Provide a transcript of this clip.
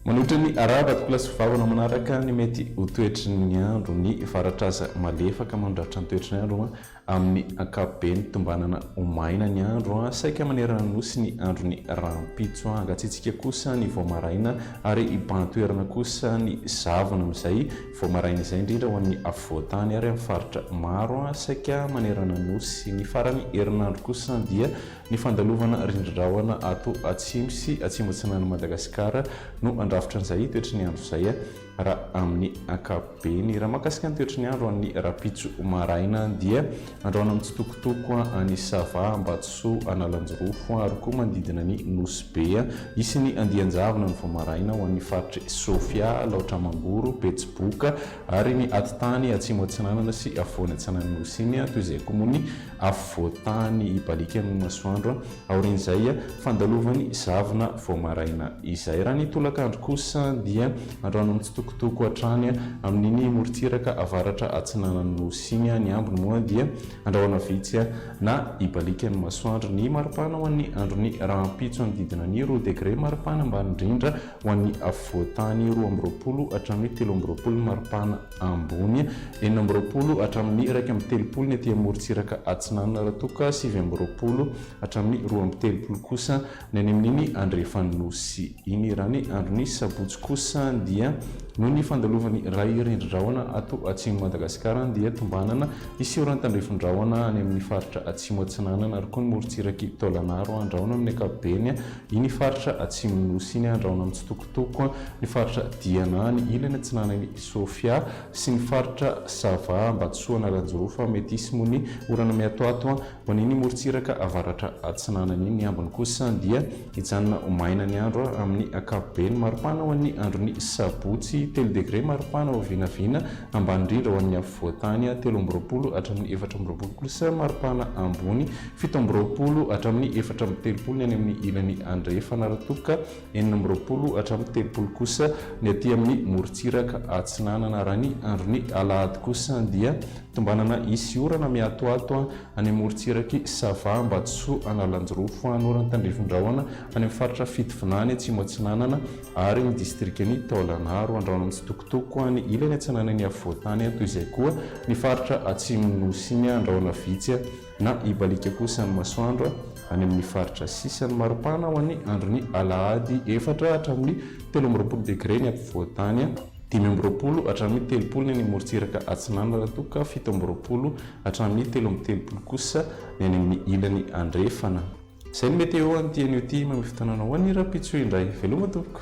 Manohitra ny ara-bato-bola sy vahaolana manaraka ny mety ho toetry ny andro ny fara-traza malefaka mandratra ny toetry ny andro Amin'ny ankapobeny, tombanana ho maina ny andro, saika manerana ny Nosy ny andron'ny rahampitso, hangatsiatsiaka kosa ny vao maraina ary hibahan-toerana kosa ny zavona amin'izay vao maraina izay, indrindra ho an'ny afovoan-tany ary amin'ny faritra maro saika manerana ny Nosy. Ny faran'ny herinandro kosa dia ny fandalovana rindrin-drahona ato atsimo sy atsimo-atsinanan'i Madagasikara no handrafitra an'izay toetry ny andro izay. Raha amin'ny ankapobeny, raha mahakasika ny toetry ny andro an'ny rahampitso maraina dia andrahona mitsitokotoko any Sava, Ambatosoa, Analanjirofo ary koa manodidina ny Nosy Be. Hisy ny andian-javona ny vao maraina ho an'ny faritr'i Sofia, Alaotra Mangoro, Betsiboka ary ny atitany atsimo atsinanana sy afovoany atsinan'ny Nosy iny toy izay koa moa ny afovoan-tany hibaliaka amin'ny masoandro aorian'izay fandalovany zavona vao maraina izay. Raha ny tolakandro kosa dia androany mitsitokotoko hatrany amin'iny morontsiraka avaratra atsinanan'ny Nosy iny. Ny ambiny moa dia andrahona vitsy na hibaliaka ny masoandro. Ny maripana ho an'ny andron'ny rahampitso hanodidina ny roa degre maripana ambany indrindra ho an'ny afovoan-tany, roa amby roapolo hatramin'ny telo amby roapolo ny maripana. ambony, enina amby roapolo hatramin'ny iraika amby telopolo ny aty amorontsiraka atsinanana raha toa ka sivy amby roapolo hatramin'ny roa amby telopolo kosa ny any amin'iny andrefan'ny nosy iny. Raha ny andron'ny sabotsy kosa dia noho ny fandalovan'ny ray rindrin-drahona ato atsimon'i Madagasikara dia tombanana hiseho raha ny tandrefin-drahona any amin'ny faritra atsimo atsinanana ary koa ny morontsirak'i Taolagnaro handraona amin'ny ankapobeny iny faritra atsimon'ny nosy iny handraona amin'ny Toko ny faritra Diana any ilany atsinanan'i Sofia sy ny faritra Sava Ambatsoana Ranjorofa mety hisy moa ny orana miatoato ho an'iny morontsiraka avaratra atsinanana iny. Ny ambiny kosa dia hijanona ho maina ny andro amin'ny ankapobeny. Maripana ho an'ny andron'ny sabotsy, telo degre maripana ho vinavina ambany indrindra ho an'ny afovoantany, telo amby roapolo hatramin'ny efatra amby roapolo kosa maripana ambony, fito amby roapolo hatramin'ny efatra amby telopolo ny any amin'ny ilany andrefana. Raha toa ka enina amby roapolo hatramin'ny telopolo kosa ny aty amin'ny morontsiraka atsinanana. Raha ny andron'ny alahady kosa dia tombanana hisy orana mihatohato any amorontsiraky Sava, Ambatosoa, Analanjirofo, Anora, Tandrifindrahona, any amin'ny faritra Fitovinany, any Atsimo Atsinanana ary ny distrikan'i Taolagnaro, Andrano mitsitokotoko any ilany atsinanan'ny afovoantany, toy izay koa ny faritra Atsimon'ny Nosy, ny Andrahona Vitsy. na hibaliaka kosa ny masoandro any amin'ny faritra sisany maripana ho an'ny andron'ny alahady efatra hatramin'ny telo amby roapolo degre ny afovoan-tany, dimy amby roapolo hatramin'ny telopolo ny any amorontsiraka atsinanana raha toa ka fito amby roapolo hatramin'ny telo amby telopolo kosa ny any amin'ny ilany andrefana. Izay ny Météo an'ity anio ity, mamehy fotoana anao an'i Rapitso indray. Veloma tompoko.